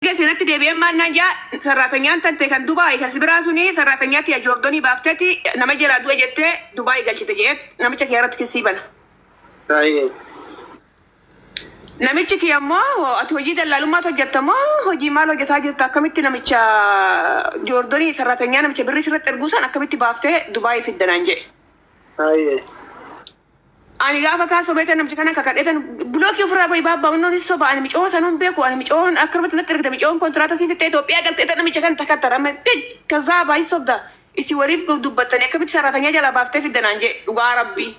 Gesi irratti deebi'een maal naan jaa sarraatanyaan tante kan Dubaay kan sibiraa suni sarraatanyaa tiya Joordonii baafteti nama jalaa du'e jettee Dubaay galchite jeet namicha kiyya irratti kissii bana. Haye. Namichi kiyya immoo ati hojii dallaalummaatu hojjetta moo hojii maal hojjetaa jirta akkamitti namicha Joordonii sarraatanyaa namicha birrii sirratti erguu san akkamitti baaftee Dubaay fidda naan jee. Haye. Ani gaafa kaa sobee tan namchi kana kakadhe tan bloki ofirraa goyi baabba onnoo ni soba ani micoo sanuun beeku ani micoon akka irratti natti ergite micoon kontiraata sii fixxee Itoophiyaa galtee tan namicha kan takka tara maddee kazaa baay'ee sobda isi waliif dubbattanii akkamitti saraatanyaa jalaa baaftee fidda naan jee dhugaa rabbii.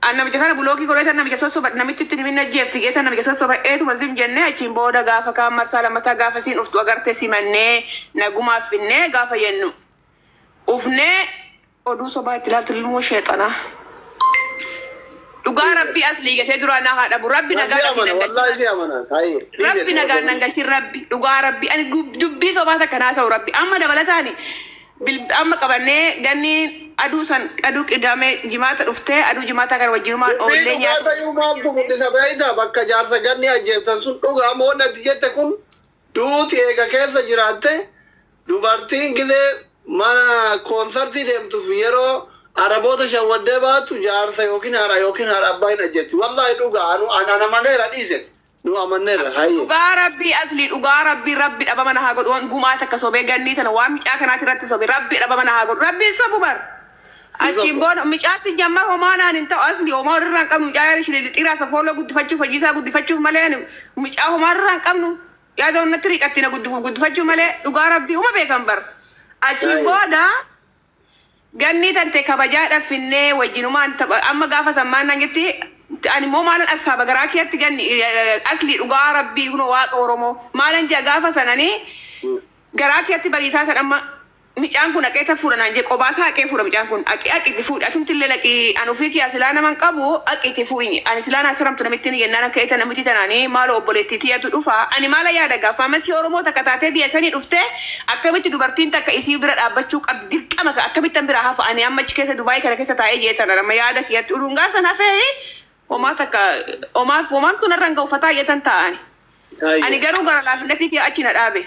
An namicha kana bulookii godhee tan namicha sossoba namitti itti nimin ajjeefti gee tan namicha sossoba eetuma zim jennee achiin booda gaafa kaan marsaa lammataa gaafa siin uftu agarte simannee nagumaaf finnee gaafa yennu ufnee Oduu sobaa itti ilaaltu ilmoo sheexanaa. Dhugaa rabbii aslii gatee duraa naa haa dhabu. Rabbi nagaa Rabbi asii amana, nan galchi. wallahi si amana. Taayee. Rabbi nagaa nan galchi rabbi. Dhugaa rabbi. Ani gub- dubbii sobaa takka naa ta'u rabbi. Amma dabalataani bil- amma qabannee ganni aduu san aduu qidamee jimaata dhuftee aduu jimaataa kan wajjinumaan Dubbii oollee dhugaa nyaata. ta'uu maaltu mul'isa beektaa? Bakka jaarsa ganni ajjeessan sun dhugaa moo natti jette kun Duuti eega keessa jiraatte dubartiin gizee mana koonsartii deemtuuf yeroo Araboota shawwaddee baatu jaarsa yookiin haadha yookiin haadha abbaa hin ajjetti. Wallaahi dhugaa anu an an amaneera dhiiseti. Nu amanneerra hayyee. Dhugaa rabbii asli dhugaa rabbii rabbi dhabama na haa godhu wan gumaa takka sobee gannii tana waan micaa kanaati irratti sobe rabbi dhabama na haa godhu rabbi hin sobu bar. Achiin booda mucaatti jammaa homaa naan hin ta'u asli homaa irraa hin qabnu mucaa yaada ishee xixiraa safooloo guddifachuuf fayyisaa guddifachuuf malee ani mucaa homaa irraa hin qabnu yaada onnatti riiqatti na guddifuuf guddifachuu malee dhugaa rabbii uma beekan bar. Achiin Baay'ee. booda gannii tante kabajaa dhaffinnee wajjinumaan tapha amma gaafa sammaan naan jetti ani immoo maalan assaaba garaa keetti ganni eh, asli dhugaa rabbii kunoo waaqa oromoo maalan jaa gaafa sananii garaa keetti bariisaa san amma Micaan kun aqee ta fuudha naan jee qobaa isaa aqee fuudha micaan kun aqii aqi itti fuudhi atumti illee laqii an ufii kiyaa silaa nama hin qabu aqi itti fuuinyi ani silaa naa saramtu namittin yennaa na ka'ee ta namiti tanaani maaloo obboleettii tiyatu dhufa ani maala yaada gaa faamasi oromoo takka taatee biya sanii dhuftee akkamitti dubartiin takka isii bira dhaabbachuu qabdi dirqama ka akkamittan biraa hafa ani amma achi keessa dubaayii kana keessa taa'ee jee tana nama yaada kiyatti uduun gaa san hafee homaa takka homaaf homaamtu narra hin ga'u fataa jetan taa'ani ani Hayyee. garuu gara laafinnatii kee achi na dhaabe.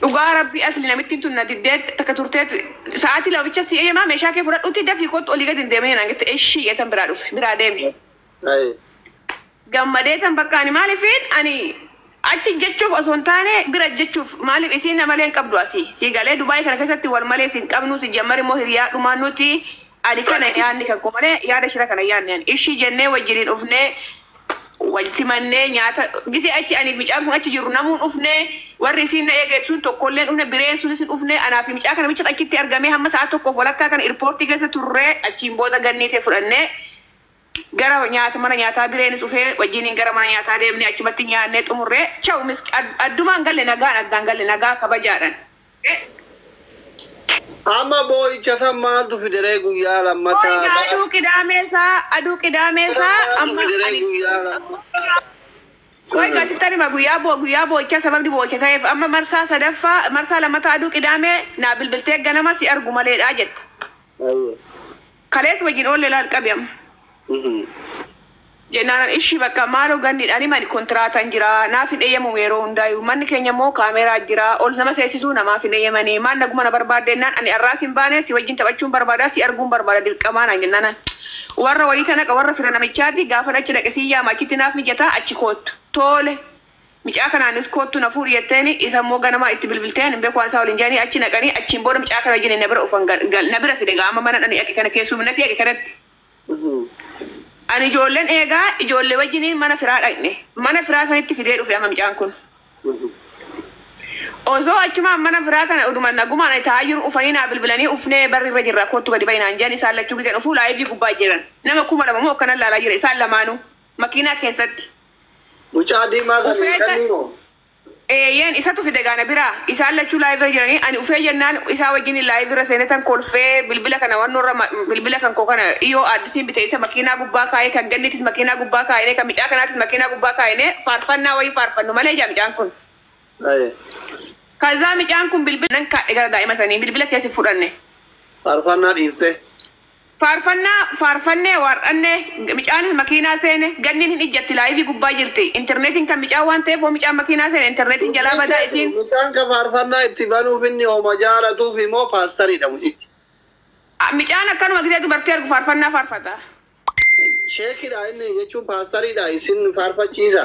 Dhugaa rabbii asli namittiin tun na diddee takka turtee sa'aatii lama bicha si eeyamaa meeshaa kee fudhadhuuti dafii kottu olii gadi hin deeminii naan jette ishii jeetan biraa dhufe biraa deeme. Ayi. Gammadee tan bakka ani maalifiin ani achi jechuuf osoo hin taane bira jechuuf maaliif isiin amalee hin qabdu asii si galee Dubaayii kana keessatti wal malee si hin qabnu si jammar immoo hiriyaa dhumaa nuti Ani kana hin yaadne kan koo malee yaada shira kana hin yaadne ani. Ishii jennee wajjiniin dhufnee wal simannee nyaata gisee achi aniif micaan kun achi jirru namuun dhufnee warri isiin na eegeetu sun tokkolleen dhufne bireen sunis hin dhufne anaa fi micaa kana micha achitti argamee hamma sa'a tokkoof walakkaa kana irpoortii keessa turree achiin booda ganniitee fudhannee Gara nyaata mana nyaataa bireenis dhufee wajjiniin gara mana nyaataa deemnee achumatti nyaannee xumurree chaw miski ad- addumaan galle nagaan addaan galle nagaa kabajaadhaan. Amma boo'icha san maaltu fideree guyyaa Boo'icha lammataa aduu qidaamee isaa aduu qidaamee isaa maaltu amma fideree ani guyyaa lammataa Qoy Mm. gaasitti anima guyyaa boo guyyaa boo'ichaa sababni boo'icha ta'eef amma marsaa sadaffaa marsaa lammataa aduu qidaamee naa bilbiltee ganama si argu maleedhaa jette. Ayyee. Kaleessa wajjin oolle laal qabi amma. Jennaan ishii bakka maaloo ganni ani mani kontiraataan jira naaf hin eeyyamamu yeroo hundaayu manni keenya immoo kaameeraa jira ol nama seesisuu namaaf hin eeyyamanii maal naguma na barbaadde jennaan ani arraas hin baane si wajjin taphachuun barbaada si arguun barbaada dirqamaa naan jennaan ani warra wayiita naqa warra fira namichaati gaafan achi dhaqe si yaama achitti naaf mijataa achi koottu toole Micaa kanaanis koottu na fuudhi jetteeni isa immoo ganamaa itti bilbiltee hin beku waan isaa waliin jedhanii achi dhaqanii achiin booda micaa kana wajjini na bira dhufan gal na bira fide egaa amma manan ani dhaqe kana keessuminati dhaqe kanatti ani ijoolleen eegaa ijoollee wajjini mana firaa dhaqne mana firaa sanitti fidee dhufe amma micaan kun osoo achumaan mana firaa kana uduma nagumaan ani taa'aa jiru ufanii naa bilbilanii ufnee barri irra jirra koottu gadi ba'i naan jedhan isaan lachuu gizeen ufuu laayivii gubbaa jiran nama kuma lama moo akkanan laalaa jira isaan lamaanuu makiinaa keessatti Mucaa diimaa kan Ufee kan- kannii moo? Eeyyeen isatu fide gaana bira isaan lachuu laayivira jiranii ani ufee jennaan isaa wajjin laayivira seenetan kolfee bilbila kana wannoorra ma- bilbila kan koo kana dhiyoo addisiin bite isa makiinaa gubbaa kaa'ee kan gannitis makiinaa gubbaa kaa'inee kan micaa kanaatis makiinaa gubbaa kaa'inee faarfannaa wayii faarfannu malee ijaa micaan kun. Aye. Kazaa micaan kun bilbila nan kaadhe gara daa'ima sanii bilbila keessi fudhanne. Faarfannaa dhiiftee. Faarfannaa faarfannee waar'annee Micaan makiinaa seene Ganniin hin ijjatti laayivii gubbaa jirti Interneetiin kan micaa waan ta'eef hoo micaan makiinaa seene interneetiin jalaa Dubbiin badaa teessu, isiin mucaan ka faarfannaa itti banuuf inni homa jaalatuufi moo paastariidha mucichi? A, Micaan akkanuma gisee dubartii argu faarfannaa faarfata. Sheekidha inni jechuun paastariidha isin faarfachiisa.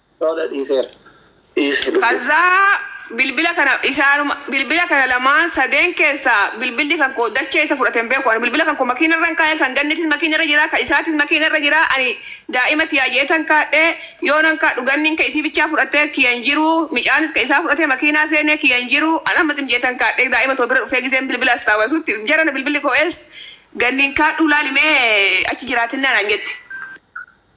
Lola dhiiseera. Dhiise lubbuu. Kazzaa bilbila kana isaanuma bilbila kana lamaan sadeen keessaa bilbilli kan koo dachee isa fudhate hin beeku ani bilbila kan koo makiina irra hin kaa'e kan gannitis makiina irra jira kan isaatis makiina irra jira ani daa'ima tiyaa jeetan kaadhe yoo nan kaadhu ganniin ka isii bichaa fudhate kiya hin jiru micaanis ka isaa fudhate makiinaa seenee kiya hin jiru an amma tim jeetan kaadhe daa'ima too bira dhufee giseen bilbila astaawasutti jarana bilbilli koo ees ganniin kaadhuu laalimee achi jiraatinna naan jette.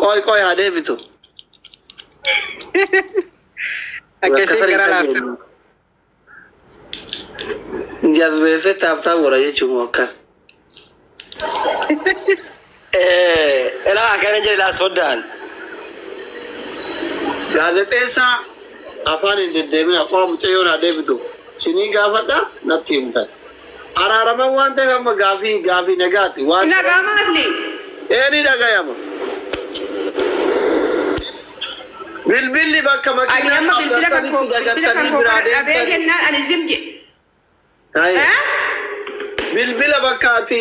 Qoy qoy haa deebitu. Akkasii gara laaftu. Jazbeeffee taaptaa wara jechuun moo akkas. Eh, ela akana jira la sodan. Gaazexeessaa afaan hin deddeemin akkuma mucayyoon haa deebitu. Sinii gaafadha natti himtan. Araaraman waan ta'eef amma gaafii gaafii nagaati waan. Hin dhaga'amaa Aslii? Ee ni dhagayama. Bilbilli bakka Ani makiinaa amma dhaabdan bilbila kan sanitti koo bilbila kan dagattanii koo biraa kana dhabee deemtanii. jennaan ani zim je. Taa'e. Eh? Bilbila bakka ati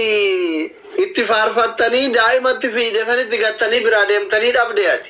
itti faarfattanii daa'imatti fiide sanitti gattanii biraa deemtanii dhabde ati.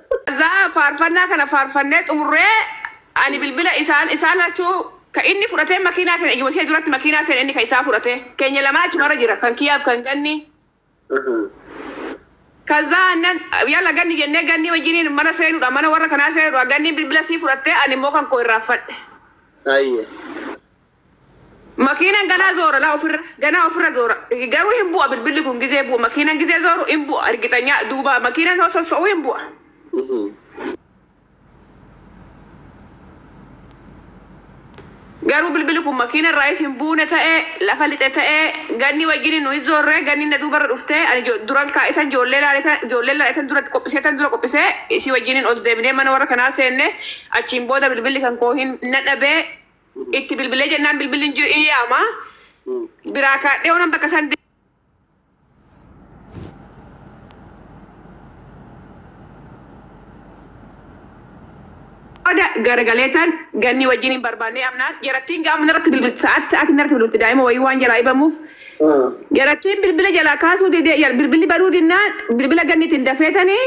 Azaa faarfannaa kana faarfannee xumurree ani bilbila isaan isaan lachuu ka inni fudhatee makiinaa seene iyyuma ishee duratti makiinaa seene inni ka isaa fudhatee keenya lamaa achumarra jira kan kiyyaaf kan ganni kazaa annan yala ganni jennee ganni wajjiniin mana seenudha mana warra kanaa seenudha ganni bilbila sii fudhattee ani immoo kan koo irraaffadhe Ayyee. Makiinan ganaa zoora laa ofirra ganaa ofirra zoora garuu hin bu'a bilbilli kun gizee bu'a makiinan gizee zooru hin bu'a argitanyaa duuba makiinan yoo sosso'u hin bu'a. Garuu bilbilli kun makiina irraayis hin buune ta'ee lafa lixe ta'ee ganni wajjin nuyi zoorree ganni na duubarra dhuftee ani jo- duran kaa'itan ijoollee laaletan ijoollee laaletan duratti qophiseetan dura qophisee isii wajjin ol deebinee mana warra kanaa seenne achiin booda bilbilli kan koo hin na dhabee Itti bilbilee jennaan bilbilli hin jiru in yaama. Biraa kaadhee oonan bakka san booda garagalee tan ganni wajjin hin barbaannee amnaan jarattiin gaama narratti bilbilti sa'aatti sa'aatti narratti bilbilti daa'ima wayii waan jalaa ibamuuf jarattiin bilbila jalaa kaasuu didee jal- bilbilli baduu dinnaan bilbila ganniitiin dafeetanii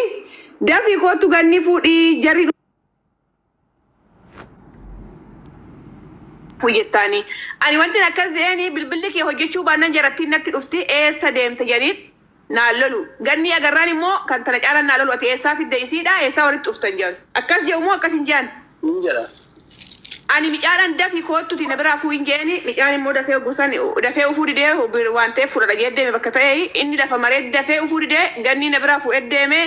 dafii koottu ganni fuudhii jarri fuyyettaanii ani wanti akkas jeeni bilbilli kee hojjechuu baannan jarattiin natti dhufti eessa deemte janiit naan lolu gannii agarraan immoo kan tana caalan naa lolu ati eessaa fidde isiidha eessaa walitti dhuftan jean akkas je'u moo akkas hin jean Hin jedha. ani micaadhaan dafi koottuti na biraa fuu hin jeeni micaan immoo dafee ogusan dafee ufuu didee bir- waan ta'eef fudhadha jee deeme bakka ta'e inni lafa maree dafee ufuu didee gannii na biraa fuudhee deeme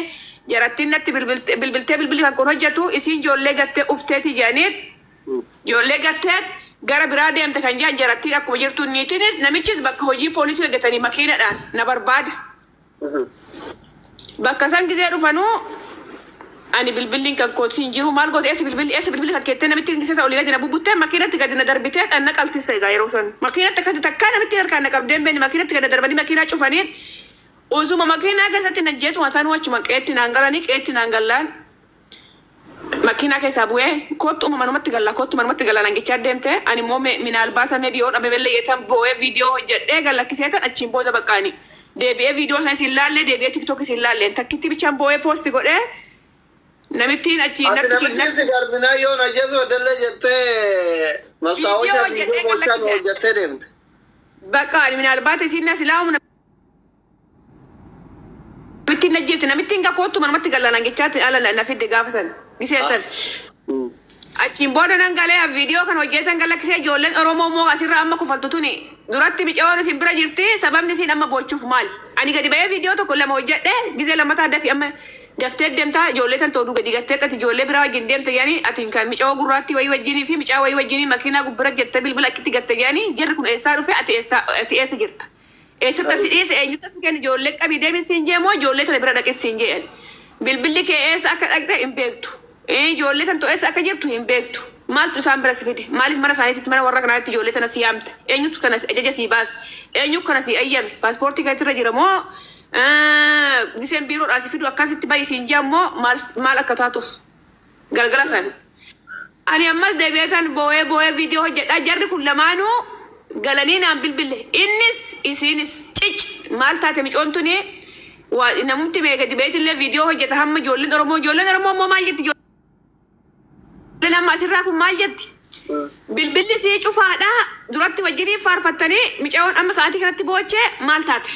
Jarattiin natti bilbilte- bilbiltee bilbilli kan kun hojjetu isiin joollee gattee dhufteeti jedhaniin joollee gattee gara biraa deemte kan jedhan jarattiin akkuma jirtu niitinis namichis bakka hojii poolisii hojjetanii makiinadhaan na barbaada. Bakka san gisee dhufanuu ani bilbilliin kan kootii hin jiru maal goote eessa bilbilli eessa bilbilli kan keettee namitti hin gisee olii gadi na bubbuttee makiinatti gadi na darbitee dhaan na qaltisse egaa yeroo san makiinatti akkatti takkaa namitti harkaan na qabdeen beeni makiinatti gadi na darbanii makiinaa cufaniin Osuma makiinaa keessatti na ajjeesu hatanuu achuma qeetti naan galanii qeetti naan gallaan makiinaa keessaa bu'ee kottu manumatti galla kottu manumatti galla naan jechaa deemte ani immoo me- minaalbaata meebi yoo dhabe bellee yetan boo'ee viidiyoo hojjedhee gallakkisee tan achiin booda baqqaani deebi'ee viidiyoo sanis hin laallee deebi'ee tiktookis hin laalleen takkitti bichaan boo'ee poosti godhee namittiin achi Ati natti namichi natti- si garbinaa yoo na jesu dallee jettee mastaawosha Viidiyoo viidiyoo hojjetee gochaan galakkise. hojjettee deemte. Bakka ani minaalbaata isiin na silaa humna Namittiin ajjeefte namittiin gaa koottu manumatti galla naan jechaatti ala na- na fidde gaafa san miseessan. Achiin booda nan galee an viidiyoo kan hojjetan kan lakkisee ijoolleen Oromoo immoo asirra amma kufaltu tuni duratti micayoon isin bira jirti sababni isin amma boochuuf maali? Ani gadi ba'ee viidiyoo tokko lama hojjedhe gizee lammataa dafi amma daftee deemtaa ijoollee tan tooduu gadi gattee ati ijoollee biraa wajjin deemta jedhanii ati kan micayoo gurraattii wayii wajjinii fi micaa wayii wajjinii makiinaa gubbira jette bilbila akkitti gatte jedhanii jarri kun eessaa dhufe ati eessaa ati eessa jirta? Eessatti si dhiise eenyutti si kenni ijoollee qabii deemi siin jee moo ijoollee tana bira dhaqi siin jee ani. Bilbilli kee eessa akka dhaqxe hin beektu. Ee, Ijoollee tantu eessa akka jirtu hin beektu. Maaltu isaan bira si fide? Maaliif mana isaaniitti mana warra kanaatti ijoollee tana si yaamte? Eenyutu kana ajaja sii baase? Eenyu kana sii eeyyame? Paaspoortii keetti irra jira moo eh, giseen biiroodhaa si fidu akkasitti bahi siin jee ammoo maal maal akka taatus? Galgala san. Ani ammas deebi'ee tan boo'ee boo'ee viidiyoo hojjedha. Jarri kun lamaanuu galanii naan bilbille. Innis isiinis cic maal taate micoon tuni waa namumti mee gadi beetillee viidiyoo hojjeta hamma ijoolleen Oromoo ijoolleen Oromoo immoo maal jetti ijoolleen amma asirraa kun maal jetti? Bilbilli sii cufaadha duratti wajjinii faarfattanii micayoon amma sa'aatii kanatti boochee maal taate?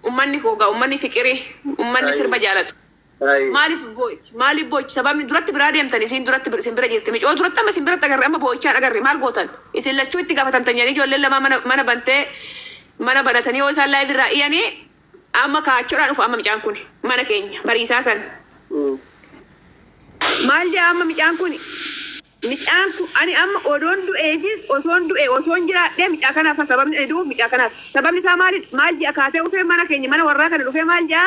Ummanni koo gaa ummanni fiqirii ummanni sirba jaalatu. Baay'ee. Maaliif boo'ichi? Maaliif boo'ichi? Sababni duratti biraa deemtan isiin duratti bir- isin bira jirti. Micoo duratti amma isin biratti agarre amma boo'ichaan agarre maal gootan? Isin lachuu itti gaafatamtan jedhanii ijoolleen lamaa mana, mana bantee mana banatanii yoo isaan laayiv irraa iyanii amma kaachuudhaan dhufu amma micaan kun mana keenya bariisaa san. Mm. Maal jedha amma micaan kun? Micaan kun ani amma odoon du'eefis osoon du'e osoon jiraadhee micaa kanaafa sababni ani du'uuf micaa kanaaf sababni isaa maalidha maal je'a kaatee ufee mana keenya mana warraa kana dhufee maal je'a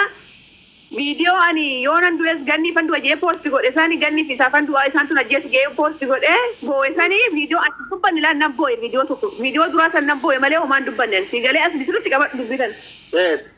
video ani yoonan du'es ganniifan du'a je'ee post godhe sani ganniif isaafan du'aa isaan tun ajjeesi je'ee post godhe boowe sani video ani hin dubbanne laa nan booye video tokko video duraa san nan booye malee homaan dubbanne ani sii galee asli sirritti qabadhu dubbii tana. Eeti.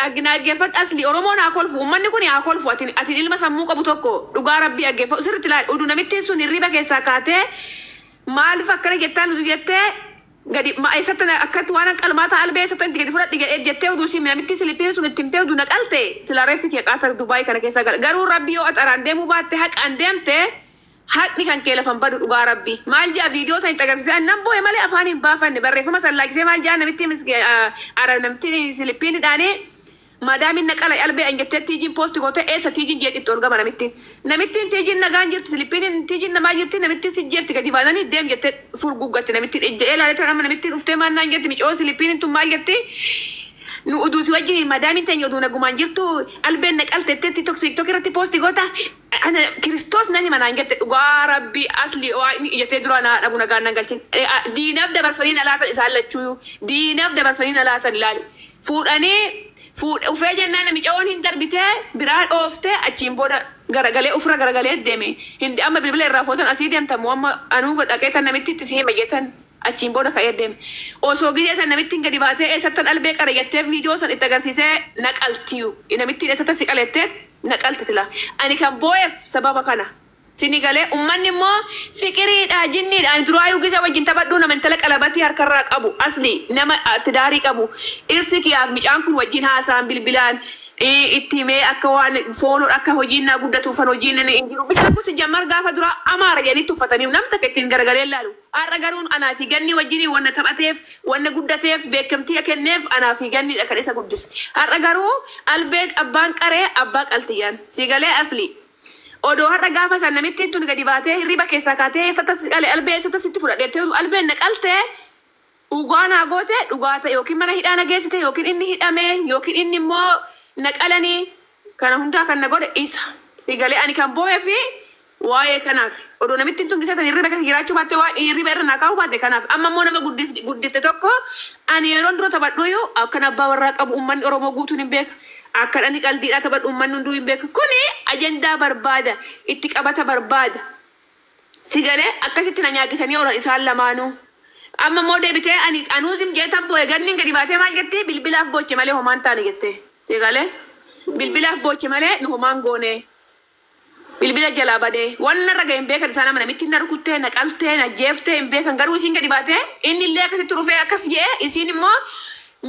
Dhag naggefadh asli oromoon haa kolfu ummanni kuni haa kolfu atin atin ilma sammuu qabu tokko dhugaa rabbii dhaggefadhu sirritti laali udu namittiin sun hirriiba keessaa kaatee maalif akkana jettaan udu jettee gadi ma eessatti na- akkatti waan qalmaa taa albee eessatti itti gadi fudhadhi jedhee jettee udu si namittii silippiin sun itti himtee udu na qalte sila reeffi kee qaata dubaayii kana keessa gala garuu rabbii yoo axaraan deemuu baatte haqaan deemte Haqni kan kee lafa hin badu dhugaa rabbi. Maal ja'a video san itti agarsisee an nan boo'e malee afaani hin baafanne barreeffama san laakisee maal ja'a namittiin miski ara namittiin silippiin hidhaane maadaamiin na qala albee an jettee tiijiin poosti goote eessa tiijiin jeetti itti ol gama namitti namittiin tiijiin nagaan jirti silippiin tiijiin namaa jirti namittiin si jeefti gadi baananii deem jettee furguggatti namittiin ejja'ee laalee ture amma namittiin dhuftee maal naan jetti micoo silippiin tun maal jetti nu uduu si wajjin maadaamiin teenya uduu nagumaan jirtu albeen na qalte jettee tiktok irratti poosti goota Ana kiristoos na hima naan jette dhugaa rabbii asli oa inni ija tee duraa naa dhabu nagaan nan galchin diinaf dabarsanii na laatan isaan lachuuyu diinaf dabarsanii na laatan ilaali fuudhanii fuudhe ufee jennaan namicaoon hin darbitee biraa dhooftee achiin booda garagalee ufira garagalee deme hindi amma bilbila irraa footan asii demta mo amma anuu dhaqee tan namittitti si hima jetan achiin booda ka'ee deme osoo gizee san namittiin gadi baatee eessattan albee qare jettee viidiyoo san itti agarsiisee na qaltiyu namittiin eessattan si qalettee na qalti sila ani kan booyef sababa kana sini galee ummanni immoo fiqiriidha jinniidha ani duraayuu gisa wajjin taphadhuu nama intala qalabatii harkarraa qabu asli nama tidaarii qabu dhirsi kiyaaf micaan kun wajjin haasaan bilbilaan itti himee akka waan foonoo akka hojiin naa guddatuufan hojiin hin jiru bisaan kun sijjammar gaafa duraa amaara jedhanii tuffatanii nam takka ittiin garagalee laalu Har'a garuu anaa fi Gannii wajjiniin wanna taphateef, wanna guddateef, beekkamtiia kenneef anaa fi Gannii dha kan isa guddise. Har'a garuu Albeed abbaan qaree abbaa qaltiian. Sii galee Aslii? Odoo har'a gaafa san namittiin tun gadi baatee hirriiba keessaa kaatee eessattas si qale Albee eessattas sitti fudha dheettee utuu Albeen na qaltee? Dhugaa naa goote dhugaa ta yookiin mana hidhaa na geessite yookiin inni hidhame yookiin inni immoo na qalani kana hundaa kan na godhe isa si galee ani kan boohefi waa'ee kanaafi odoo namittiin tun gisee tan hirriba keessa jiraachuu baatte waan hirriba irra naa kaa'uu baatte kanaaf amma immoo nama guddif- guddifte tokko ani yeroon dura taphadhuuyu akkan abbaa warraa qabu ummanni oromoo guutuun hin beeka akkan ani qaldiidhaa taphadhu ummanni hunduu hin beeka kuni ajandaa barbaada itti qabata barbaada Si galee akkasitti na nyaagisanii oran isaan lamaanuu. Amma immoo deebitee ani anuu zim jedhee tan boo'e ganniin gadi baatee maal jetti bilbilaaf booche malee homaan taane jette. Si galee bilbilaaf booche malee nu homaan goonee. Bilbila jalaa badee waan narra ga'e hin beekan isaan amma namittiin na rukuttee na qaltee na jeeftee hin beekan garuu isiin gadi baatee inni illee akkasitti dhufee akkas jedhee isiin immoo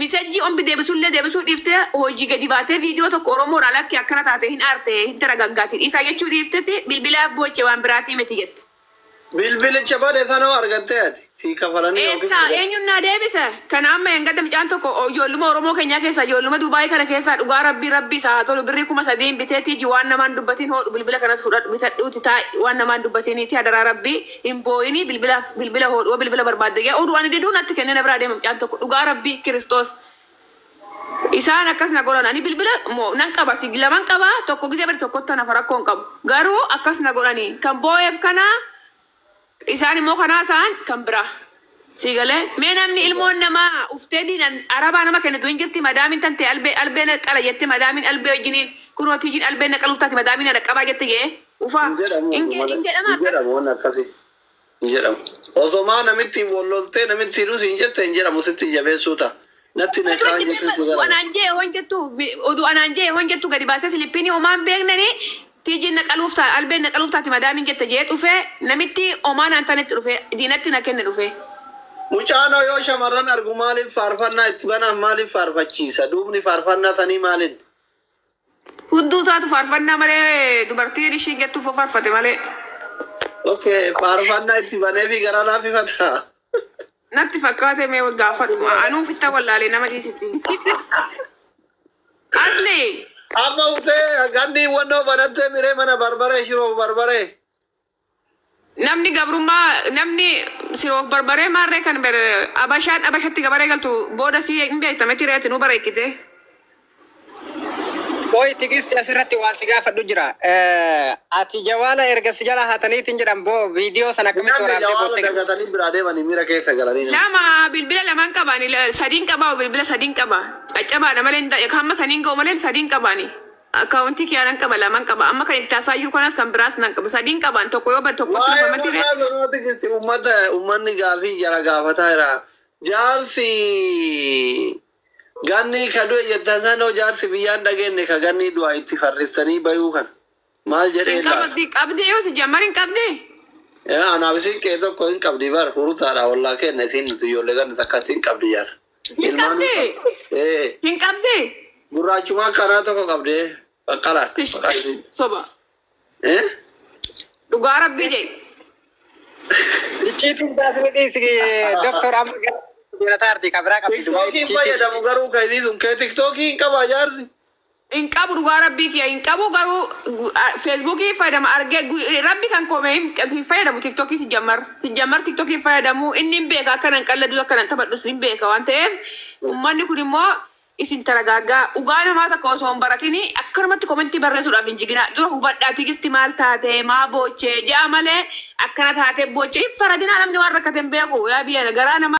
Misejjii omg debisullee debisuu dhifte hojii gadi baate video tokko oromoo irraa lakki akkana taate hin aarte hin taragaggaati dhiisaa jechuu dhiifteti bilbilaa booche waan biraatii miti jette. Bilbilicha bade sana hoo argattee ati? Sii kafalanii yookiin Eessaa argatte? eenyun naa deebise? Kana amma engadda micaan tokko ijoolluma oromoo kenyaa keessaa ijoolluma duubaayii kana keessaa dhugaa rabbii rabbii isaa haa tolu birrii kuma sadiin biteeti iji waan namaan dubbatiin hoodhu bilbila kanas fudhadhu bitadhuuti taa'i waan namaan dubbatiiniiti hadaraa rabbii Hin boo'inii bilbilaaf bilbila hoodhu hoo bilbila barbaadde yaa oduu ani diduu natti kennee na biraa deema mucaan tokko dhugaa rabbii kiristoos isaan akkas na godhan ani bilbila mo nan qaba si laman qaba tokko gisee bari tokkotti hanafa rakkoo hin qabu garuu akkas na godhanii kan boo'eef kanaa isaan immoo kanaa isaan kan biraa. Sii galee? Mee namni ilmoon namaa uftee diinan arabaa nama kennitu hin jirtii madaamin tantee albee albee na qala jette madaamin albee wajjini kunoo tijiin albeen na qaluuf taati madaamin na dhaqqabaa jette jee ufaa Hin jedhamu hin oduma hin hin jedhama akkas jedhamu waan akkasi hin jedhamu. Osomaa namittiin wal loltee namittiidhuu siin jette hin jedhamu sitti jabeessuu ta'a. Natti na caan jettee si gara. Anaan jee hoon jettu oduu anaan jee hoon jettu gadi baasee silippiinii omaan beeknani tiijiin naqaluuf ta'a albeen naqaluuf taati madaamiin jette jee dhufee namitti omaa naan tanetti dhufee diinatti na kenne dhufee. Mucaanoo yoo shamarran argu maaliif faarfannaa itti banaan maaliif faarfachiisa? Duubni faarfannaa sanii maalin? Hudduu taatu faarfannaa malee dubartiin ishiin jettu fo faarfate malee. Okay, faarfannaa itti banee fi garaa laaffifata. Natti fakkaate mee gaafadhuma. Anuu fitta wallaalee nama dhiisitti. Asli Amma utee ganni wannoo banattee miree mana barbaree shiroo barbaree. Namni gabrummaa namni siroof barbaree maarree kan ber abashaan abashatti gabaree galtu booda si hin beekta miti reeti nu bareechite. Qoy tigisti asirratti waan si gaafadhu jira. Eh, Ati jawaala erga si jala hataniitiin jedhan boo viidiyoo sana akkamitti Namni waraabdee jawaala boottee galta? dagatanii biraa deemanii miira keessa galanii. Lama bilbila lamaan qabaani la- sadiin qabaa bilbila sadiin qaba caccabaadha malee hin ta'e hamma saniin ga'u malee sadiin qabaani. Akkaawuntii kiyaa nan qaba laman qaba amma kan itti hasaayyuu kanas kan biraas nan qaba sadiin qabaan tokko yoo bade tokkotti Waa'ee dhufamati ree. maqaa sanaa tikisti uummata uummanni gaafii jara gaafataa jira. Jaarsi ganni ka du'e jettan sanoo jaarsi biyyaan dhageenye ka ganni du'a itti farriftanii bayuu kan maal jedhee Hin laata? qabdi qabdi yoo si jammar hin qabdi. Yaa anaaf isin qe'ee tokko hin qabdi bar hurutaadha wallaa kenna isin nuti ijoollee ganna takka isin qabdi jaarsa. Hin qabdi. Ee, Hin qabdi. gurraachumaa karaa tokko qabdee baqqala. Tish. Soba. Ee? Dhugaa rabbii jee. Icciitiin taasifni dhiisi doktor amma gara jirataa arti kabiraa qabdi. Tiktookii fayyadamu garuu kan inni sun kee tiktookii hin qabaa jaarsi. hin qabu dhugaa rabbii kiya hin qabu garuu gu- a- feesbuukii fayyadama argee gu- rabbi kan koome hin hin fayyadamu tiktokii si jammar si jammar tiktokii hin fayyadamu inni hin beeka akka nan qalladus akka nan taphadhus hin beeka waan ta'eef uummanni kun immoo isin taragaaggaa dhugaa namaa takka osoo hin baratini akkanumatti komentii barreessuudhaaf hin jiginaa dura hubadhaa tigisti maal taate maa boochee ja'a malee akkana taate boochee hin faradinaa namni waan rakkate hin beeku yaa biyya garaa namaa